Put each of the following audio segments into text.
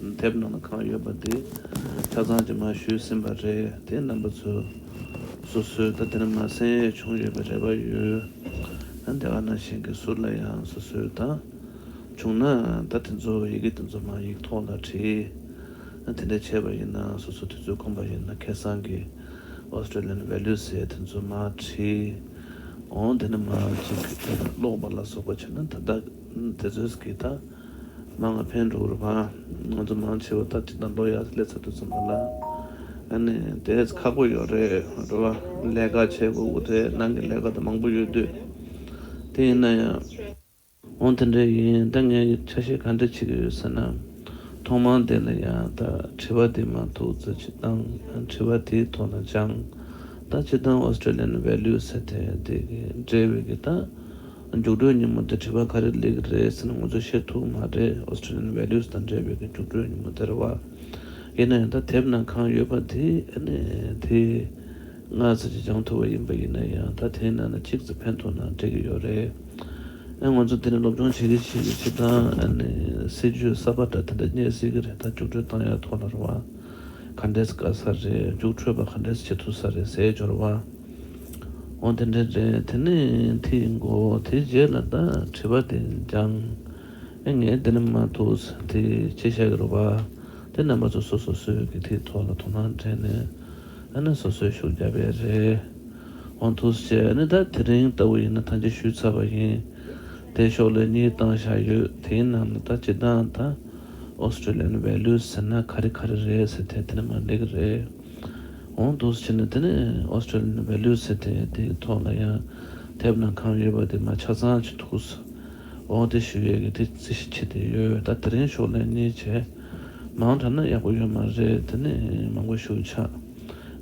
མཐེབ་ནང་ན་གང་ཡོད་པ་དེ་ཆ་ཚང་གྱི་མ་ཞུས་ཟིན་པ་རེད་དེ་རྣམ་པ་ཚོས་སོ་སོའི་ད་ལྟའི་ན་མ་སེམས་ཡས་བྱུང་ཡོད་པའི་རེ་བ་ཡོད་ད་རྒྱ་གར་ནང་བཞིན་གྱི་ཟུར་ལ་ཡང་སོ་སོའི་ད་བྱུང་ན་ད་དེ་ཚོ་ཡི་གེ་དེ་ཚོ་མ་ཡིག་ཐོག་ལ་བྲིས་དེ་འདྲ་བྱས་པ་ཡིན་ན་སོ་སོ་དེ་ཚོས་ཁོམ་པ་ཡིན་ན་ཁེ་སང་གི Australian Value ཟེར་དེ་ཚོ་མ་བྲིས་འོང་དེ་ན་མ་གཅིག་ཀློག་པ་ལ་སོགས་པ་བྱས་ན་ད་ད། དེ་ཚོས་གིས་ད་མང་ང་ཕན་འགྲོ་བར་བ་ང་ཚོ་མང་ཆེ་བ་ད་ཅི་ད་མདོ་ཡག་ལས་ཚར་འདུག་ཚོད་མ་ལ་ཨ་ནི་དེས་ཁག་པོ་ཡོད་རེད་འགྲོ་བ་ལས་ཀ་བྱེད་དགོས་དགོས་དེ་ནང་གི་ལས་ཀ་ད་མང་པོ་ཡོད་དུས་དེ་ཡིན་ན་ཡང། འོང་དེ་འདྲ་ཡིན་ད་ངས་ཆ་ཤས་ག་འདྲ་བྱེད་ཀྱི་ཡོད་ཟེར་ན་ཐོག་མང་དེ་ལ་ཡང་ད་དྲི་བ་དེ་མ་ཐུག་ཚེ་ཅི་གཏང་དྲི་བ་དེའི་ཐོག་ན་ཅང་ད་ཅི་གཏང Australian Values ཟེར་དེ་དེ་གི་འབྲེལ་བའི་གི་ད། རྒྱུགས་སྤྲོད་ཉིན་མོ་དེ་བྲིས་པ་ག་རེ་ལེགས་རེད་ཟེར་ནས་ངོ་ཚོས་ཤེས་ཐུབ་མ་རེད Australian values དང་འབྲེལ་བའི་གི་རྒྱུགས་སྤྲོད་ཉིན་མོ་དེར་བ། ཡིན་ན་ཡང་ད་དེབ་ནང་གང་ཡོད་པ་དེ་ནི་དེའི་ངག་རྩལ་གྱིས་སྦྱང་ཐུབ་པ་ཡིན་པ་ཡིན་ན་ཡང་ད་དེའི་ནང་ན་གཅིག་རྩི་ཕན་ཐོག་ན་འགྲིག་གི་ཡོད་རེད། ངོ་ཚོས་དེ་ནི་སློབ་སྦྱོང་བྱེད་ཀྱི་བྱེད་ཀྱི་བྱེད་སྟངས་སྲིད་ཇུས་གསར་པ་འདྲ་དེ་འདྲ་རྙེད་སྲིད་ཀྱི་རེད་ད་རྒྱུགས་སྤྲོད་བཏང་ཡག་ཐོག་ལ་ར་བ། ག་འདྲས་དགའ་ས་རེད་རྒྱུགས་འཕྲོད་པ་ག་འདྲས་བྱེད་ཐུབ་ས་རེད་ཟས་སྦྱོར་བ་འོ་དེ་འདྲས་རེད་དེ་ནས་དེའི་མགོ་དེའི་རྗེས་ལ་ད་བྲིས་པ་དེ་སྦྱང་ཨེ་ངས་དེ་ནི་མ་ཐུགས་དེ་ཁྱེད་བཤད་ཀྱི་རོགས་པ་དེ་རྣམ་པ་ཚོ་སོ་སོ་སོའི་གི་དེའི་ཐོག་ལ་དོ་སྣང་བྲལ་ནས་ཨ་ན་སོ་སོའི་ཤུགས་རྒྱབ་པས་རེད་འོ་ཐུགས་ཁྱེད་ནི་ད་དེ་རིང་ལྟ་བུ་ཡིན་ན་ཐང་ཅིག་ཞུས་ཚར་བ་ཡིན་དེ་ཤོག་ལེ་གཉིས་བཏང་བཞག་ཡོད་དེའི་ནང་ནས་ད་སྤྱི་བཏང་ད། Australian values ཟེར་ན་ག་རེ་ག་རེ་རེད་ཟེར་ཐལ་དེ་ནི་མ་འགྲིག་གི་རེད། འོང་དུ་ཕྱིན་ན་དེ་ནི Australian values ཟེར་ཐལ་དེའི་ཐོག་ལ་ཡང་དེབ་ནང་གང་ཡོད་པ་དེ་མ་ཆ་ཚང་བྱེད་འདུག་ཟེར། འོང་དེ་ཞུ་ཡས་ཀྱི་དེ་རྩི་ཤི་བྱེད་དེ་ཡོད་ད་དེ་རིང་ཤོག་ལན་གཉིས་བྱས། མང་དྲགས་ན་ཡག་པོ་ཡོད་མ་རེད་དེ་ནི་མང་པོ་ཞུ་ཆགས་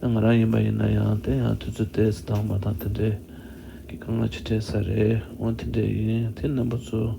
ང་རང་ཡིན་པ་ཡིན་ན་ཡང་དེ་ཡང་དུས་ཚོད་བལྟས་ཚེ་དྭངས་མ་དང་དེ་འདྲས་ཀྱི་དཀའ་ངལ་ཆེ་གྲས་ས་རེད་འོང་དེ་འདྲས་ཡིན་དེ་རྣམ་པ་ཚོ།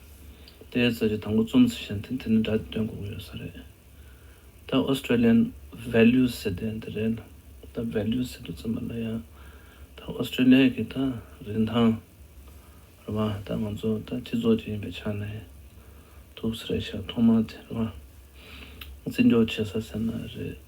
དེའི་རྩ་ཆེ་དང་པོ་རྩོམ་ཚིག་གཞན་དེ་འདི་ནི་འདྲ་སྟེ་དོན་གོ་གི་ཡོད་ས་རེད། ད Australian values ཟེར་དེ་འདི་རེད་ལ་ད values ཟེར་དུས་ཚོད་མ་ལ་ཡ། ད Australia གི་ད་རིན་ཐང་རེད་བ་ད་ང་ཚོ་ད་སྤྱི་ཚོགས་ཅིག་ཡིན་པའི་ཆ་ནས་ཐུག་ས་རེད་ཤག་ཐོག་མ་དེ་རེད་བ། བརྩི་འཇོག་བྱེད་ས་ཟེར་ན་རེད།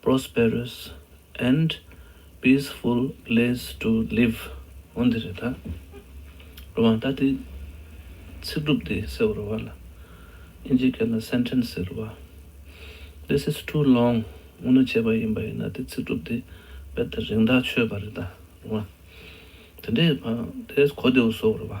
Prosperous and peaceful place to live འོ་འདི་རེད་ད། རོ་མང་ད་དེ་ཚིག་སྒྲུབ་དེ་ཟེར་བ་རོ་བ་ལ་དབྱིན་ཇིའི་སྐད་ལ Sentence ཟེར་རོ་བ། This is too long དངོས་གནས་བྱས་པ་ཡིན་པ་ཡིན་ན་དེ་ཚིག་སྒྲུབ་དེ་རྦད་དེ་རིང་ཐག་ཆོད་པ་རེད་ད་རོ་མང། དེ་འདྲའི་བར་དེ་གོ་བདེའོ་ཟོ་བ་རོ་བ།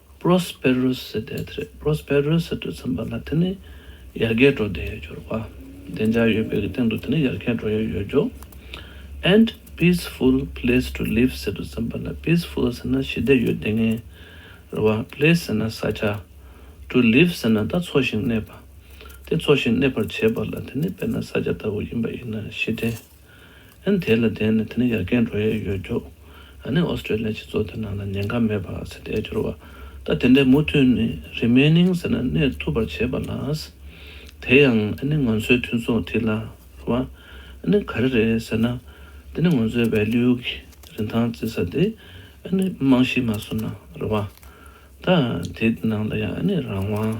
Prosperous ཟེར་བསྡད་དེ་རེད Prosperous ཟེར་དུས་ཚང་པ་ལ་དེ་ནི་ཡར་རྒྱས་འགྲོ་བསྡད་ཡོད་སྐྱོར་བ་བདེ་འཇགས་ཡོད་པའི་གི་སྟེང་དུ་དེ་ནི་ཡར་རྒྱས་འགྲོ་ཡོད་ཡོད་སྐྱོར And peaceful place to live ཟེར་དུས་ཚང་པ་ལ Peaceful ཟེར་ན་ཞི་བདེ་ཡོད་བསྡད་ངེས་རེད་བ Place ཟེར་ན་ས་ཆ To live ཟེར་ན་ད་འཚོ་ཞིང་གནས་པ་དེ་འཚོ་ཞིང་གནས་པར་བྱེད་པ་ལ་དེ་ནི་དཔེར་ན་ས་ཆ་ལྟ་བུ་ཡིན་པ་ཡིན་ན་ཞི་བདེ། ཨན། དེ་ལ་བརྟེན་ནས་དེ་ནི་ཡར་རྒན་འགྲོ་ཡས་ཡོད་རྒྱུ། ཨ་ནི་ཨོ་སི་ཀྲེ་ལི་ཡའི་སྤྱི་ཚོགས་དེ་ནང་ལ་ཉེན་ཁ་མེད་པར་ཟེར་ཏེ་བསྒྱུར་བ། ད་དེ་འདྲའི་མུ་མཐུད་ནི Remaining ཟེར་ན་གནས་ཐུབ་པར་བྱེད་པ་ལ། དེ་ཡང་ཨ་ནི་ང་ཚོའི་མཐུན་སོང་ཐིག་ལ་བ། ཨ་ནི་ག་རེ་རེད་ཟེར་ན། དེ་ནི་ང་ཚོའི Value གི་རིན་ཐང་བརྩི་ས་དེ་ཨ་ནི་རྨང་གཞི་མ་བཟུང་ན་རེད་བ། ད་དེ་ནང་ལ་ཡང་ཨ་ནི་རང་དབང།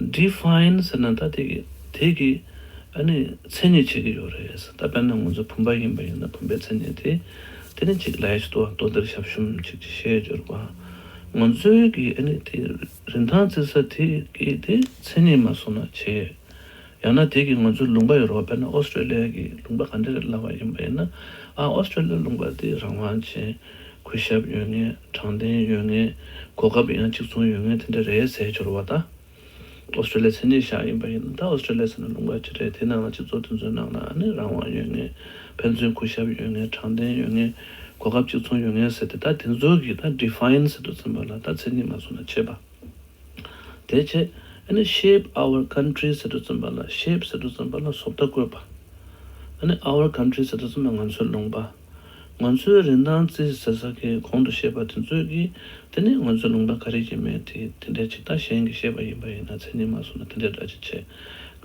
Define ཟེར་ན་ད་དེ་དེ་གི་ཨ་ནི་མཚན་ཉིད་བྱེད་ཀྱི་ཡོད་རེད། ད་དཔེར་ན་ང་ཚོ་བུམ་པ་ཡིན་པ་ཡིན་ན་བུམ་པའི་མཚན་ཉིད་དེ་དེ་ནི་གཅིག་ལས་གཅིག་ཏུ་བ་ལྟོ་འདིར་ཞབས་ཞུམ་གཅིག་ཅེས་བཤད་རྒྱུར་བ་ང་ཚོའི་གི་ཨ་ནི་དེ་རིན་ཐང་བརྩི་ས་དེ་གི་དེ་མཚན་ཉིད་མ་སོང་ན་བྱས། ཡང་ན་དེ་གི་ང་ཚོའི་ལུང་པ་ཡོད་རོགས་དཔེར་ན་ཨོ་སི་ཀྲོ་ལི་ཡ་གི་ལུང་པ་ག་འདྲ་རེད་ལབ་བ་ཡིན་པ་ཡིན་ན་ཨ་ཨོ་སི་ཀྲོ་ལི་ཡའི་ལུང་པ་དེ་རང་དབང་ཅན་གོས་ཞབས་ཡོད་ངེས་དྲང་བདེན་ཡོད་ངེས་གོ་སྐབས་ཡང་གཅིག་མཚུངས་ཡོད་ངེས་དེ་འདྲ་རེད་ཟེར་འབྱོར་བ་ད Australia མཚན་ཉིད་ཤག་ཡིན་པ་ཡིན་ན་ད Australia ཟེར་ན་ལུང་པ་ཅི་རེད་དེའི་ནང་ལ་སྤྱི་ཚོགས་དེ་ཚོའི་ནང་ལ་ནི་རང་དབང་ཡོད་ངེས་ཕན་ཚུན་གོས་ཞབས་ཡོད་ངེས་དྲང་བདེན་ཡོད་ངེས་གོ་སྐབས་གཅིག་མཚུངས་ཡོད་ངེས་ཟེར་དེ་ད་དེ་ཚོ་གི་ད Define ཟེར་དུ་ཚིམ་པ་ལ་ད་མཚན་ཉིད་མ་བཟུང་ན་ཆད་པ་དེ་ཆད་ཨ་ནི Shape Our Country ཟེར་དུ་ཚིམ་པ་ལ Shape ཟེར་དུ་ཚིམ་པ་ལ་བཟོ་བལྟ་བཀོད་པ་ཨ་ནི Our Country ཟེར་དུ་ཚིམ་པ་ང་ཚོའི་ལུང་པ། ང་ཚོའི་རིན་ཐང་རྩིས་ཟེར་ས་ཁའི་གོང་དུ་བཤད་པ་དེ་ཚོད་ཀྱིས་དེ་ནི་ང་ཚོའི་ལུང་པ་ག་རེ་ཡིན་མིན་དེ་དེ་འདྲའི་ཇི་ལྟ་ཞེན་གྱིས་བཤད་པ་ཡིན་པ་ཡིན་ན་མཚན་ཉིད་མ་བཟུང་ན་དེ་འདྲའི་སྒྲ་ཅི་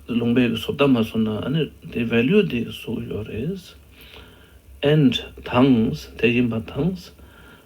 བྱེད། ལུང་པའི་གི་བཟོ་ལྟ་མ་བཟུང་ན་ཨ་ནི་དེའི value དེ་གཟུགས་ཡོད་རེད། and དང། དེ་ཡིན་པ་དང།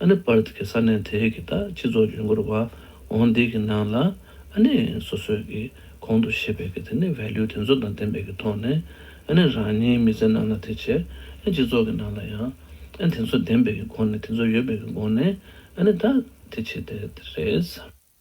ཨ་ནེ Perth གྱི་ས་གནས་དེ་གའི་སྤྱི་ཚོགས་ཇུས་འགོད་པ་ཨོང་དེ་གི་ནང་ལ་ཨ་ནེ་སོ་སོས་ཀྱི་གོང་དུ་བཤད་པའི་དེ་ནི Value དེ་ཚོ་དང་ལྡན་པའི་གི་ཐོག་ནས་ཨ་ནེ་རང་ཉིད་མི་ཚེ་ནང་ལ་དེ་བྱས་ཨན་སྤྱི་ཚོགས་ཀྱི་ནང་ལ་ཡང་ཨན་དེ་ཚོ་ལྡན་པའི་གི་སྒོ་ནས་དེ་ཚོ་ཡོད་པའི་གི་སྒོ་ནས་ཨ་ནེ་དག་དེ་བྱས་དེ་རེད།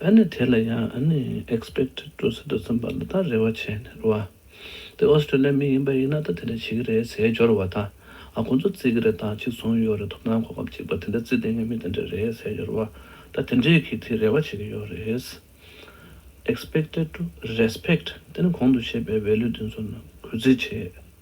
ཨ་ནི་དེ་ལ་ཡང་ཨ་ནི expect to ཟེར་དུ་བརྩམས་པ་ལ་ད་རེ་བ་བྱས་ནས་རེ་བ། དེ་ཨོ་སི་ཀྲི་ལི་མི་ཡིན་པ་ཡིན་ན་ད་དེ་འདྲ་བྱེད་ཀྱི་རེད་ཟེར་སྦྱོར་བ་དང་ཨ་ཁོ་ཚོ་བརྩི་གི་རེད་དང་གཅིག་མཚུངས་ཡོད་རེད་ཐོབ་ཐང་གོ་སྐབས་གཅིག་པ་དེ་འདྲ་བརྩི་དེ་ངས་མི་དེ་འདྲ་རེད་ཟེར་སྦྱོར་བ་ད་དེ་འདྲས་ཀྱིས་དེ་རེ་བ་བྱེད་ཀྱི་ཡོད་རེད། expected to respect དེ་ནི་གོང་དུ་བཤད་པའི value དེ་ཚོ་རྣམས་གུས་བརྩི་བྱེད།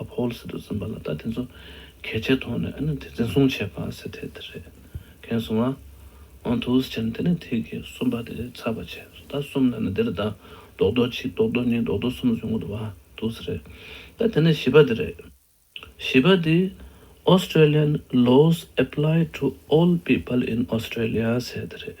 ཨ་ཕོལ་སི་ཏུ་འཛིན་པ་ལ་ད་དེ་ཚོ་གལ་ཆེ་མཐོང་ནས་ཨ་ནི་དེ་འཛིན་བཟུང་བྱས་པ་སི་ཐེ་དེ་རེད་གན་སོང་ཨ་ཨོང་ཐུའུ་སི་ཆན་དེ་ནས་ཐིག་གི་གསུམ་པ་དེ་རེད་ཚར་བ་བྱས་སོ་ད་གསུམ་ན་ནི་དེ་རེད་ད་རྡོག་རྡོག་གཅིག་རྡོག་རྡོག་གཉིས་རྡོག་རྡོག་གསུམ་བཟོས་འགོ་དུ་བ་ཐུའུ་སི་རེད་ད་དེ་ནས་བཞི་པ་དེ་རེད། བཞི་པ་དེ Australian laws apply to all people in Australia ཟེར་དེ་རེད།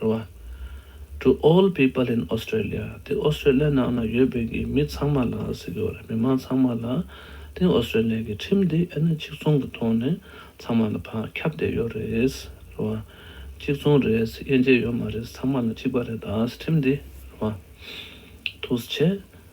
རེད་བ། To all people in Australia དེ་ཨོ་སི་ཀྲེ་ལི་ཡ་ནང་ལ་ཡོད་པའི་གི་མི་ཚང་མ་ལ་ཟེར་གི་རེད་མི་དམངས་ཚང་མ་ལ་དེ་ཨོ་སི་ཀྲེ་ལི་ཡ་གི་ཁྲིམས་དེ་ཨེ་ན་གཅིག་མཚུངས་གི་ཐོག་ནས་ཚང་མ་ལ་བག་ཁྱབ་བསྡད་ཡོད་རེད་རེད་བ། གཅིག་མཚུངས་རེད་དབྱེ་འབྱེད་ཡོད་མ་རེད་ཚང་མ་ལ་གཅིག་པ་རེད་ཁྲིམས་དེ་རེད་བ། ཐུགས་རྗེ་ཆེ།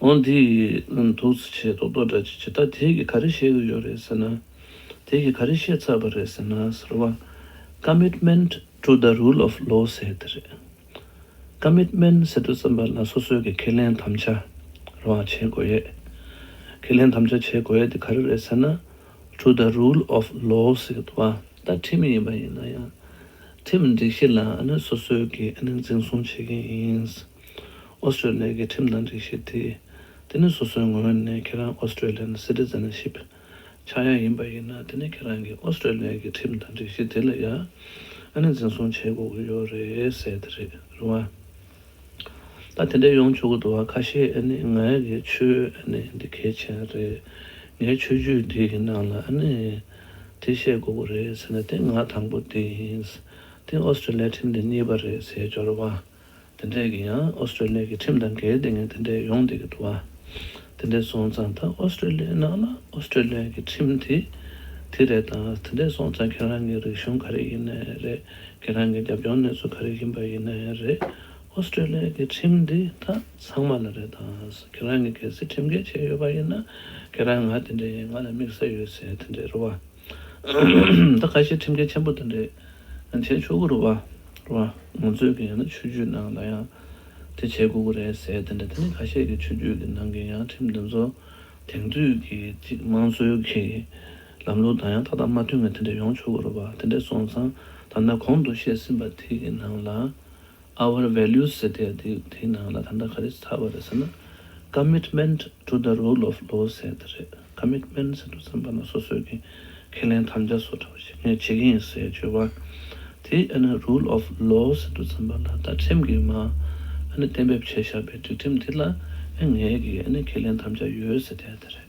ཨོང་དེ་ཡི་ནང་དུ་ཚི་ཆེ་ཏོག་ཏོག་འདྲ་ཅི་ཇི་ད་དེ་གི་ག་རེ་བཤད་གི་ཡོད་རེད་ཟེར་ན། དེ་གི་ག་རེ་བཤད་ཚར་བ་རེད་ཟེར་ན་ཟེར་བ། Commitment to the Rule of Law ཟེར་དེ་རེད། Commitment ཟེར་དུས་བསམ་པ་ན་སོ་སོའི་གི་ཁས་ལེན་དམ་བཅའ་རང་བྱེད་དགོས་ཡས། ཁས་ལེན་དམ་བཅའ་བྱེད་དགོས་ཡས་དེ་ག་རེ་རེད་ཟེར་ན། To the Rule of Law ཟེར་དུ་བ། ད་ཁྲིམས་ཡིན་པ་ཡིན་ན་ཡང་ཁྲིམས་སྒྲིག་གཞི་ལ་ཨ་ནི་སོ་སོའི་གི་ཨ་ནི་འཛིན་བཟུང་བྱེད་གི་ཡིན། ཨོ་སི་ཀྲེ་ལི་ཡའི་ཁྲིམས་དང་སྒྲིག་གཞི་དེ། དེ་ནི་སོ་སོའི་ངོས་ནས་ཁྱེད་རང Australian Citizenship ཆགས་ཡ་ཡིན་པ་ཡིན་ན་དེ་ནི་ཁྱེད་རང་གིས་ཨོ་སི་ཀྲེ་ལི་ཡའི་ཁྲིམས་དང་སྒྲིག་གཞི་དེ་ལ་ཡ་ཨ་ནས་འཛིན་བཟུང་བྱེད་དགོས་ཀྱི་ཡོད་རེད་ཟེར་དེ་རེད་རུང་ཨ། ད་དེ་འདྲས་ཡོང་ཆོག་གི་འདུག་བ་ཁ་ཤས་ཨ་ནི་ང་གི་ཆོས་ཨ་ནི་འདི་གལ་ཆེན་རེད་ངའི་ཆོས་བརྒྱུད་འདི་གི་ནང་ལ་ཨ་ནི་དེ་བཤད་དགོས་ཀྱི་རེད་ཟེར་ན་དེ་ང་དང་པོ་དེ་ཡིན་དེ་ཨོ་སི་ཀྲེ་ལི་ཡའི་ཁྲིམས་དེ་གཉིས་པ་རེད་ཟེར་འབྱོར་བ། དེ་འདྲས་ཀྱི་ཡང་ཨོ་སི་ཀྲེ་ལི་ཡ་གི་ཁྲིམས་དང་འགལ་ཏེ་ངས་དེ་འདྲས་ཡོང་བསྡད་ཀྱི་འདུག་བ། དེ་འདྲས་སོང་ཙང་ད་ཨོ་སི་ཀྲེ་ལི་ཡའི་ནང་ལ་ཨོ་སི་ཀྲེ་ལི་ཡ་གི་ཁྲིམས་དེ་དེ་རེད་དང་དེ་འདྲས་སོང་ཙང་ཁྱེད་རང་གི་རིག་གཞུང་ག་རེ་ཡིན་ནས་རེད་ཁྱེད་རང་གི་རྒྱབ་ལྗོངས་གནས་ཚུལ་ག་རེ་ཡིན་པ་ཡིན་ནས་རེད་ཨོ་སི་ཀྲེ་ལི་ཡ་གི་ཁྲིམས་འདི་དག་ཚང་མ་ལ་རེད་དང་ཁྱེད་རང་གི་གལ་སྲིད་ཁྲིམས་འགལ་བྱས་ཡོད་པ་ཡིན་ན་ཁྱེད་རང་ང་དེ་འདྲས་ཡིན་ང་ལ་དམིགས་བསལ་ཡོད་ཚེ་དེ་འདྲས་རེད་བ། ད་ཁ་ཤས་ཁྲིམས་འགལ་ཆེན་པོ་དེ་འདྲས་བྱས་ཆོག་གི་རུ་བ་རུ་བ་ང་ཚོས་གི་ཡང་ན་ཆོས་རྒྱུད་ནང་ལ་ཡང་དེ་བྱས་དགོས་གི་རེད་ཟེར་དེ་འདྲས་དེ་ནི་ཁ་ཤས་ཀྱི་ཆོས་རྒྱུད་ཀྱི་ནང་གི་ཡང་ཁྲིམས་དེ་ཚོ་དེང་དུས་ཀྱི་ཅིག་དམངས་སྲོལ་གྱི་ལམ་ལུགས་དང་ཡང་ཏག་ཏག་མ་མཐུན་ངེས་དེ་འདྲས་ཡོང་ཆོག་གི་རུ་བ་དེ་འདྲས་སོང་ཙང་ད་ནས་གོང་དུ་བཤད་ཟིན་པ་དེ་གི་ནང་ལ། Our values ཟེར་དེ་དེ་དེའི་ནང་ལ་ད་ལྟ་ག་རེ་ཚར་བ་རེད་ཟེར་ན། Commitment to the rule of law ཟེར་དེ་རེད། Commitment ཟེར་དུས་ཙམ་པ་ན་སོ་སོས་ཀྱི་ཁས་ལེན་དམ་བཅའ་སོགས་འདྲ་བ་ཞིག་ངས་བྱེད་ཀྱི་ཡིན་ཟེར་བརྗོད་པ། དེ་ཨ་ནི Rule of law ཟེར་དུས་ཙམ་པ་ན་ད་ཁྲིམས་ཀྱིས་མ་ཨ་ནི་གཏན་འབེབས་བྱས་བཞག་པའི་སྒྲིག་ཁྲིམས་དེ་ལ་ཨ་ངས་ཀྱི་ཨ་ནི་ཁས་ལེན་དམ་བཅའ་ཡོད་ཟེར་དེ་ཨ་དེ་རེད།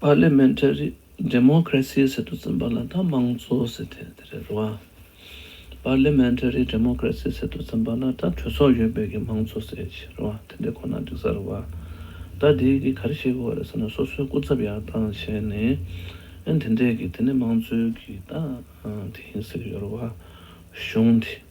Parliamentary Democracy ཟེར་དུ་ཚིམས་པ་ལ་ད་དམངས་གཙོ་ཟེར་ཐལ་དེ་རེད་རེད་བ། Parliamentary Democracy ཟེར་དུ་ཚིམས་པ་ལ་ད་གྲོས་ཚོགས་ཡོད་པའི་གི་དམངས་གཙོ་ཟེར་གྱི་རེད་བ་དེ་འདྲ་ཁོ་ན་འགྲིག་ས་རེད་བ། ད་དེའི་གི་ག་རེ་བྱེད་དགོས་བ་རེད་ཟེར་ན་སོ་སོའི་སྐུ་ཚབ་ཡར་བཏང་བྱས་ནས་ཨེ་དེ་འདྲས་གི་དེ་ནི་དམངས་གཙོའི་གི་ད་དེ་ཡིན་ཟེར་གི་ཡོད་རེད་བ། གཞུང་དེ།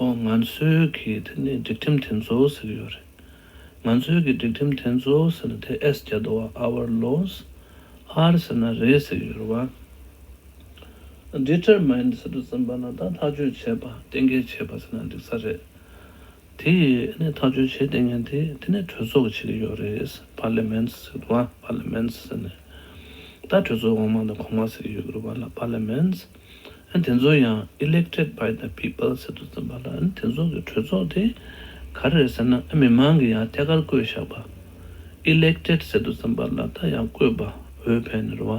ཨོ་ང་ཚོའི་གི་དེ་ནི་སྒྲིག་ཁྲིམས་དེ་ཚོ་ཟེར་གི་ཡོད་རེད། ང་ཚོའི་གི་སྒྲིག་ཁྲིམས་དེ་ཚོ་ཟེར་ན་དེ་ཨེས་རྒྱ་དོ་བ Our Laws ཨར་ཟེར་ན་རེད་ཟེར་གི་ཡོད་རེད་བ། Determined ཟེར་དུ་ཟིན་པ་ན་ད་ཐག་གཅོད་བྱས་པ་གཏན་འཁེལ་བྱས་པ་ཟེར་ན་འགྲིག་ས་རེད། དེ་ཡི་ནི་ཐག་གཅོད་བྱས་ཏེ་ངན་དེ་དེ་ནི་གྲོས་ཚོགས་བྱེད་གི་ཡོད་རེད Parliament ཟེར་གི་ཡོད་རེད་བ Parliament ཟེར་ནས་ད་གྲོས་ཚོགས་འོག་མ་དང་གོང་མ་ཟེར་གི་ཡོད་གི་རེད་བ་ལ Parliament། དེ་ཚོ་ཡང Elected by the People ཟེར་དུ་བརྩམས་པ་ལ་དེ་ཚོ་གི་གྲོས་ཚོགས་དེ་ག་རེད་ཟེར་ན་མི་མང་གི་ཡང་ཐད་ཀར་བསྐོས་བཞག་པ Elected ཟེར་དུ་བརྩམས་པ་ལ་ད་ཡང་བསྐོས་པ་འོས་འཕེན་ནི་རུ་བ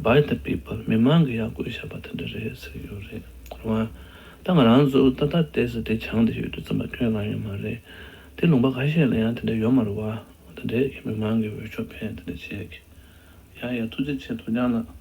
By the People མི་མང་གི་ཡང་བསྐོས་བཞག་པ་དེ་འདྲ་རེད་ཟེར་གི་ཡོད་རེད་རུ་བ་ད་ང་རང་ཚོ་ད་ད་དེ་ཟེར་དེ་བྱང་དེ་ཞུས་དུ་བརྩམས་པ་ཁྱོད་གང་ཡོད་མ་རེད་དེ་ལུང་པ་ག་ཤེད་ལ་ཡང་དེ་འདྲ་ཡོད་མ་རུ་བ་དེ་འདྲས་ཀི་མི་མང་གི་འོས་ཤོག་འཕེན་དེ་འདྲ་བྱས་ཀི་ཡ་ཡ་ཐུགས་རྗེ་ཆེ་དོ་ཅང་ལགས།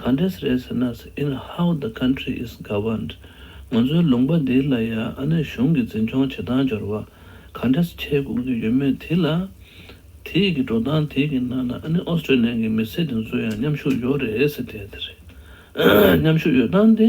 ག་འདྲས་རེད་ཟེར་ན in how the country is governed ང་ཚོའི་ལུང་པ་འདི་ལ་ཡ་ཨ་ནི་གཞུང་གི་འཛིན་སྐྱོང་བྱེད་སྟངས་སྦྱོར་བ་ག་འདྲས་བྱེད་དགོས་ཀྱི་ཡོད་མེད་དེ་ལ། དེས་ཀྱི་འགྲོ་སྟངས་དེ་ཀྱི་ནང་ན་ཨ་ནི་ཨོ་སི་ཀྲེ་ལན་གྱི་མི་སེར་དེ་ཚོའི་ཡང་མཉམ་ཤུགས་ཡོད་རེད་ཟེར་བསྡད་དེ་རེད། མཉམ་ཤུགས་ཡོད་སྟངས་དེ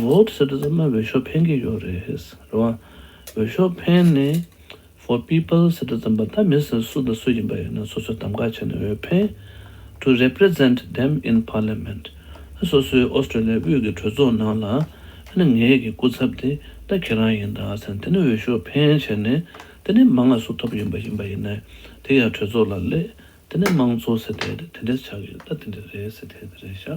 Vote ཟེར་དུས་ཚང་མ་འོས་ཤོག་འཕེན་གྱི་ཡོད་རེད་རེད་བ། འོས་ཤོག་འཕེན་ནས For People ཟེར་དུས་ཚང་མ་ད་མི་སུ་སུ་དང་སུ་ཡིན་པ་ཡིན་ན་སོ་སོས་གདམ་ག་བྱས་ནས་འོས་འཕེན To Represent Them In Parliament ཨ་སོ་སོའི Australia དབུས་ཀྱི་གྲོས་ཚོགས་ནང་ལ་ཨ་ནི་ངེད་ཀྱི་སྐུ་ཚབ་དེ་ད་ཁྱེད་རང་ཡིན་ད་ཟེར་དེ་ནས་འོས་ཤོག་འཕེན་བྱས་ནས་དེ་ནས་མ་ང་སུ་ཐོབ་ཡོད་པ་ཡིན་པ་ཡིན་ནས་དེ་ཡང་གྲོས་ཚོགས་ལ་སླེད་དེ་ནས་དམངས་གཙོ་ཟེར་དེ་དེ་འདྲས་ཆགས་ཡོད་ད་དེ་འདྲས་རེད་ཟེར་དེ་དེ་རེད་ཤག།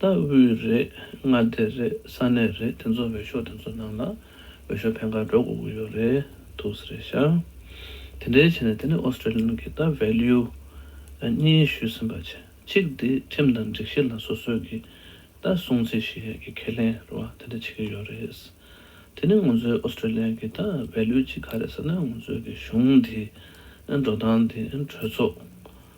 ལྟ་བུའི་རེད་མངའ་སྡེ་རེད་ས་གནས་རེད་དེ་ཚོ་འོས་ཤོག་དེ་ཚོ་ནང་ལ་འོས་ཤོག་ཕན་ཁར་འགྲོ་དགོས་ཀྱི་ཡོད་རེད་དུ་ཟེར་རེད་ཤག་དེ་འདྲའི་བྱས་ནས་དེ་ནི Australian གི་ལྟ Value གཉིས་ཞུས་ཟིན་པ་གཅིག་དེ་ཁྲིམས་དང་སྒྲིག་གཞི་ལ་སོ་སོས་ཀྱི་ལྟ་སྲུང་ཚད་གཞི་གི་ཁས་ལེན་རེད་བ་དེ་འདྲ་བྱེད་ཀྱི་ཡོད་རེད་དེ་ནི་ང་ཚོའི Australia གི་ལྟ Value གཅིག་ག་རེད་ཟེར་ན་ང་ཚོའི་གཞུང་དེ་འགྲོ་སྟངས་དེ་གྲོས་ཚོགས་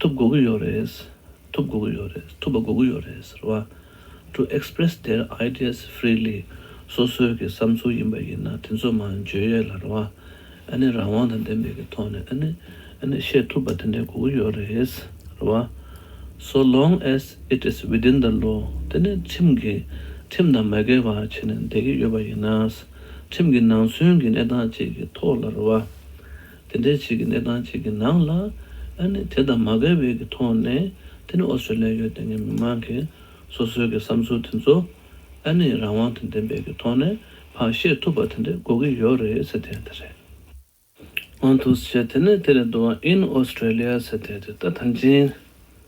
ཐུབ་དགོས་ཀྱི་ཡོད་རེད། ཐུབ་དགོས་ཀྱི་ཡོད་རེད། ཐུབ་པ་དགོས་ཀྱི་ཡོད་རེད་ཟེར་བ། To express their ideas freely སོ་སོའི་གི་བསམ་ཚུལ་ཡིན་པ་ཡིན་ན་དེ་ཚོ་མ་འཇོན་ཡོད་ལ་རེད་བ། ཨ་ནི་རང་དབང་དང་ལྡན་པའི་གི་ཐོག་ནས་ཨ་ནི་ཨ་ནི་བཤད་ཐུབ་པ་དེ་འདྲའི་དགོས་ཀྱི་ཡོད་རེད་ཟེར་བ། So long as it is within the law དེ་ནི་ཁྲིམས་གི་ཁྲིམས་དང་མ་འགལ་བར་བྱས་ནས་བསྡད་ཀྱི་ཡོད་པ་ཡིན་ན། ཁྲིམས་གི་ནང་ཚུན་གི་གནས་སྟངས་བཅས་ཀྱི་ཐོག་ལ་རེད་བ། དེ་འདྲའི་ཆེད་ཀྱི་གནས་སྟངས་ཅིག་གི་ནང་ལ། ཨ་ནི་དེ་དང་མ་འགལ་བའི་གི་ཐོག་ནས་དེ་ནི་ཨོ་སི་ལེ་ཡོ་དེ་སྔའི་མི་མང་གི་སོ་སོའི་གི་བསམ་ཚུལ་དེ་ཚོ་ཨ་ནི་རང་དབང་དང་ལྡན་པའི་གི་ཐོག་ནས་ཕར་བཤད་ཐུབ་པ་དེ་འདྲས་དགོས་གི་ཡོད་རེད་ཟེར་ཐལ་དེ་རེད། དབང་ཐུགས་ཆེ་དེ་ནས་དེ་ལས་བསྡུ་བ in Australia ཟེར་ཐལ་དེ་ད་ཐང་ཅིང།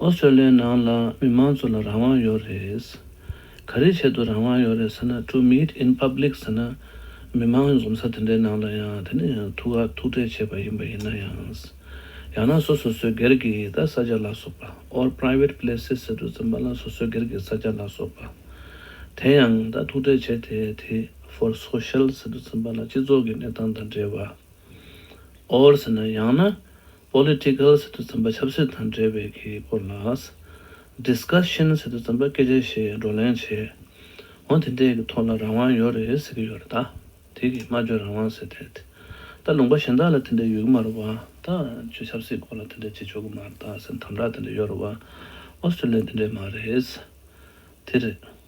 ཨོ་སི་ཀྲ་ལི་ཡའི་ནང་ལ་མི་མང་ཚོ་ལ་རང་དབང་ཡོད་རེད། ག་རེའི་ཆེད་དུ་རང་དབང་ཡོད་རེད་ཟེར་ན to meet in public ཟེར་ན་མི་མང་འཛོམས་ས་དེ་འདྲའི་ནང་ལ་ཡང་དེ་ནི་ཐུགས་ཁག་ཐུགས་ཁྲལ་བྱས་པ་ཡིན་པ་ཡིན་ན་ཡང། ཡང་ན་སོ་སོ་སོའི་སྒེར་གྱི་ད་ས་ཆ་ལ་སོགས་པ or private places ཟེར་དུས་ཙམ་པ་ལ་སོ་སོའི་སྒེར་གྱི་ས་ཆ་ལ་སོགས་པ་དེ་ཡང་ད་ཐུགས་ཁྲལ་བྱས་དེ་དེ for social ཟེར་དུས་ཙམ་པ་ལ་སྤྱི་ཚོགས་ཀྱི་གནས་སྟངས་དང་འབྲེལ་བ or ཟེར་ན་ཡང་ན Political ཟེར་དུས་རྩོམ་པ་ཆབ་སྲིད་དང་འབྲེལ་བའི་གི་སྐོར་ལ། Discussion ཟེར་དུས་རྩོམ་པ་སྐད་ཆ་ཞེས་བགྲོ་གླེང་བྱེད། འོ་དེ་འདྲའི་གི་ཐོག་ལ་རང་དབང་ཡོད་རེད་ཟེར་གི་ཡོད་རེད་ད། དེ་གི་སྨྲ་བརྗོད་རང་དབང་ཟེར་དེད། ད་ལུང་པ་གཞན་དག་ལ་དེ་འདྲའི་ཡོད་གི་མ་རེད་བ། ད་ཆོས་ཆབ་སྲིད་སྐོར་ལ་དེ་འདྲའི་བྱེད་ཆོག་གི་མ་རེད་ད་ཟེར་དམ་དྲག་དེ་འདྲ་ཡོད་རེད་བ། Australia དེ་འདྲའི་མ་རེད། དེ་རེད།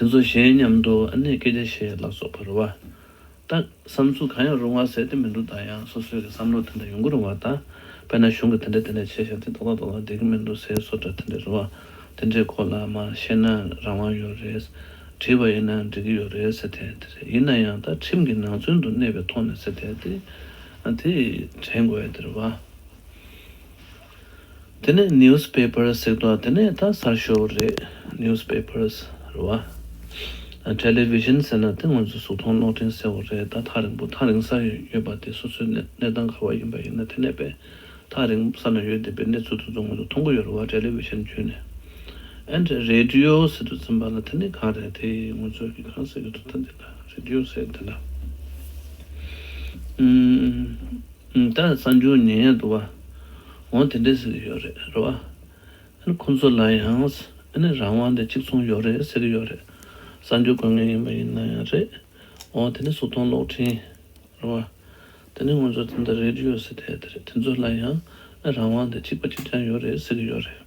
དེ་ཚོ་གཞན་མཉམ་དུ་ཨ་ནེ་སྐད་ཆ་བཤད་ལ་སོགས་པར་བ་ལྟ། བསམ་ཚུལ་གང་ཡང་རུང་བ་ཟེར་ཏེ་མི་འདུག་ད་ཡང་སོ་སོའི་གི་བསམ་བློ་དེ་འདྲ་ཡོང་གི་རུང་བ་ལྟ། དཔེར་ན་གཞུང་གི་དེ་འདྲ་དེ་འདྲ་བྱས་ཤག་དེ་ཏོག་ཏག་ཏོག་ཏག་བསྡད་གི་མི་འདུག་ཟས་སོ་འདྲ་དེ་འདྲ་རུང་བ་དེ་འདྲའི་སྐོར་ལ་མ་བཤད་ན་རང་དབང་ཡོད་རེད། བྲིས་པ་ཡིན་ན་འགྲིག་གི་ཡོད་རེད་ཟེར་ཐལ་དེ་རེད་ཡིན་ན་ཡང་ད་ཁྲིམས་ཀྱི་ནང་ཚུན་དུ་གནས་པའི་ཐོག་ནས་ཟེར་ཐལ་དེ་དེ་དྲན་དགོས་དེར་བ། དེ་ནས news papers ཟེར་དོ་དེ་ནས་ད་གསར་ཤོག་རེད news papers རེད་བ། television ཟེར་ན་དེ་ང་ཚོའི་གཟུགས་མཐོང་གློག་འཕྲིན་ཟེར་བ་རེད་ད་ཐག་རིང་པོ་ཐག་རིང་སར་ཡོད་པ་དེ་སོ་སོའི་གནས་སྟངས་ག་བ་ཡིན་པ་ཡིན་ན་དེ་ནས་པས་ཐག་རིང་ས་ན་ཡོད་བསྡད་པའི་གནས་ཚུལ་དེ་ཚོ་ང་ཚོ་མཐོང་གི་ཡོད་རེད་བ television བརྒྱུད་ནས and radio ཟེར་དུ་ཚིམ་པ་ལ་དེ་ནི་གང་རེད་དེ་ང་ཚོས་གི་གང་ཟེར་གི་འདུག་ད་འདི་ལ radio ཟེར་དེ་ལ། ད་གསར་འགྱུར་ཉན་ཡས་འདུག་བ། འོ་དེ་འདྲས་ཟེར་གྱི་ཡོད་རེད་རེད་བ། ཨ་ཁོང་ཚོ་ལ་ཡང་ཨ་ནི་རང་དབང་དེ་གཅིག་མཚུངས་ཡོད་རེད་ཟེར་གྱི་ཡོད་རེད། གསར་འགྱུར་དགོས་ངེས་ཡིན་པ་ཡིན་ན་ཡང་རེད། འོ་དེ་ནི་གཟུགས་མཐོང་གློག་འཕྲིན་རེད་བ། དེ་ནི་ང་ཚོ་དེ་འདྲ་རེད་ཡོད་ཟེར་ཐལ་དེ་རེད་དེ་ཚོ་ལ་ཡང་ཨ་རང་དབང་དེ་གཅིག་པ་གཅིག་རྐྱང་ཡོད་རེད་ཟེར་གྱི་ཡོད་རེད།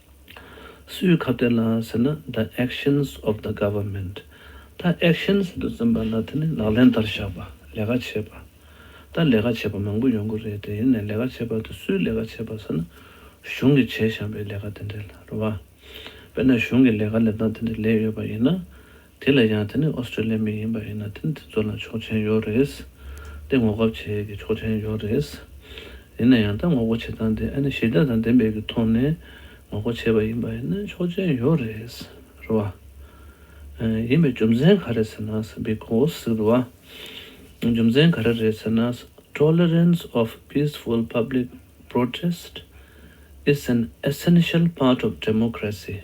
སུའི་ཁ་བརྡ་ལ་ཟེར་ན the actions of the government ད actions འདུ་འཛོམས་པ་ལ་དེ་ནི་ལག་ལེན་བསྟར་བཞག་པ་ལས་ཀ་བྱེད་པ། ད་ལས་ཀ་བྱེད་པ་མང་པོ་ཡོང་གི་རེད་དེ་ཡིན་ནས་ལས་ཀ་བྱེད་པ་དེ་སུའི་ལས་ཀ་བྱེད་པ་ཟེར་ན་གཞུང་གིས་བྱས་བཞག་པའི་ལས་ཀ་དེ་འདྲའི་ལ་རུ་བ། དཔེར་ན་གཞུང་གི་ལས་ཀ་ལས་སྟངས་དེ་འདྲ་ལས་ཡོད་པ་ཡིན་ན། དེ་ལས་ཀྱང་དེ་ནི་ཨོ་སི་ཀྲི་ལི་མི་ཡིན་པ་ཡིན་ན་དེ་ནི་དེ་ཚོ་ལ་ཆོག་མཆན་ཡོད་རེད། ཏེ་ངོ་དགའ་བྱེད་ཀྱི་ཆོག་མཆན་ཡོད་རེད། ཡིན་ན་ཡང་ད་ངོ་རྒོ་བྱེད་སྟངས་དེ་ཨ་ནི་ཞི་བདེ་དང་བདེན་པའི་གི་ཐོག་ནས་ངོ་རྒོ་བྱེད་པ་ཡིན་པ་ཡིན་ན་ཆོག་མཆན་ཡོད་རེད། རེད་བ། ཡིན་པའི་རྒྱུ་མཚན་ག་རེད་ཟེར་ན Because རེད་བ། རྒྱུ་མཚན་ག་རེ་རེད་ཟེར་ན Tolerance of peaceful public protest is an essential part of democracy།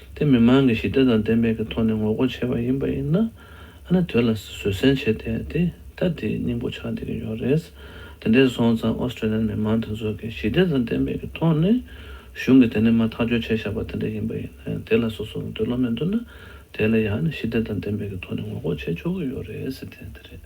དེ་མི་མང་གི་ཞི་བདེ་དང་བདེན་པའི་གི་ཐོག་ནས་ངོ་རྒོལ་བྱས་པ་ཡིན་པ་ཡིན་ན། ཨ་ནི་དོལ་ལ་བཟོད་སྲན་བྱས་ཏེ་དེ་ད་དེའི་སྙིང་པོ་ཆགས་བསྡད་ཀྱི་ཡོད་རེད། དེ་འདྲས་སོང་ཙང Australian མི་མང་དེ་ཚོ་གི་ཞི་བདེ་དང་བདེན་པའི་གི་ཐོག་ནས་གཞུང་གི་དེ་ནས་མ་ཐག་གཅོད་བྱས་བཞག་པ་དེ་འདྲས་ཡིན་པ་ཡིན་ན་དེ་ལ་སོ་སོ་གི་འདོད་བློ་མེད་འདུག་ན་དེ་ལ་ཡང་ནི་ཞི་བདེ་དང་བདེན་པའི་གི་ཐོག་ནས་ངོ་རྒོལ་བྱས་ཆོག་གི་ཡོད་རེད་ཟེར་དེ་དེ་རེད།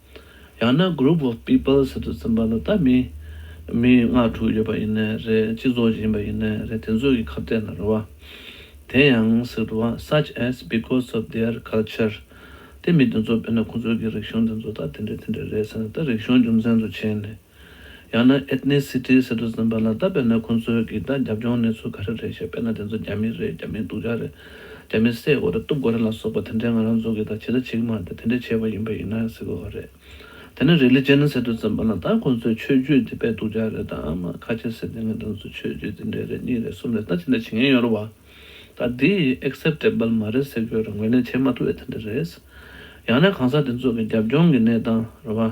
ཡང་ན Group of People ཟེར་དུ་ཚིམ་པ་ལ་ལྟ་མི། མི་ལྔ་དྲུག་ཡོད་པ་ཡིན་ནའི་རེད་སྤྱི་ཚོགས་ཡིན་པ་ཡིན་ནའི་རེད་དེ་ཚོ་གི་ཁ་བརྡས་ན་རུ་བ། དེ་ཡང་ཟེར་དུ་བ such as because of their culture དེ་མི་དེ་ཚོ་དཔེར་ན་ཁོ་ཚོ་གི་རིག་གཞུང་དེ་ཚོ་ད་དེ་འདྲ་དེ་འདྲ་རེད་ཟེར་ན་ད་རིག་གཞུང་རྒྱུ་མཚན་དུ་བྱས་ནས། ཡང་ན Ethnicity Citizen པ་ལ་བལྟ་དཔེར་ན་ཁོང་ཚོའི་གིས་ད་རྒྱབ་ལྗོངས་གནས་ཚུལ་ག་རེ་རེད་ཞེས་དཔེར་ན་དེ་ཚོ་རྒྱ་མི་རེད་རྒྱ་མིའི་སྡུག་ཅག་རེད་རྒྱ་མི་བསད་དགོ་རེད་གཏུབ་དགོ་རེད་ལ་སོགས་པ་དེ་འདྲའི་ང་རང་ཚོ་གིས་ད་ཇི་ལྟ་བྱེད་ཀྱི་མ་རེད་དེ་འདྲས་བྱས་པ་ཡིན་པ་ཡིན་ན་ཡང་ཟེར་དགོས་པ་རེད། དེ་ནས Religion Citizen པ་ལ་བལྟ་ཁོང་ཚོའི་ཆོས་བརྒྱུད་དེ་དཔེ་སྡུག་ཅག་རེད་དམ་ཁ་ཆེ་ཟེར་ཏེ་ང་རང་ཚོའི་ཆོས་བརྒྱུད་དེ་འདྲས་རེད་གཉིས་རེད་གསུམ་རེད་ད་ཇི་འདྲ་བྱེད་ངེས་ཡོད་རེད་བ། ད་འདི Acceptable མ་རེད་ཟེར་དགོས་རེད་ངོས་ལེན་བྱེད་མ་ཐུབ་ཨེ་དེ་འདྲ་རེད། ཡང་ན་གང་ཟག་དེ་ཚོ་གི་རྒྱབ་ལྗོངས་ཀྱི་གནས་སྟངས་རེད་བ།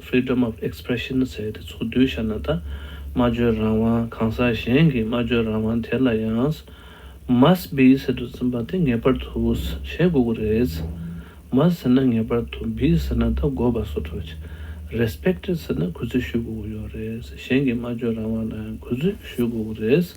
Freedom of Expression ཟེར་དེ་ཚོགས་འདུའི་ཤར་ན་ད་སྨྲ་བརྗོད་རང་དབང་གང་ཟག་གཞན་གྱི་སྨྲ་བརྗོད་རང་དབང་དེ་ལ་ཡང Must be ཟེར་དུ་འཛིན་པ་དེ་ངེས་པར་དུ་བྱེད་དགོས་གི་རེད། Must ཟེར་ན་ངེས་པར་དུ Be ཟེར་ན་ད་དགོས་པ་སོགས་གྲོགས་ཀྱི Respect ཟེར་ན་གུས་བརྩི་ཞུས་དགོས་གི་ཡོད་རེད་གཞན་གྱི་སྨྲ་བརྗོད་རང་དབང་ལའང་གུས་བརྩི་ཞུས་དགོས་གི་རེད།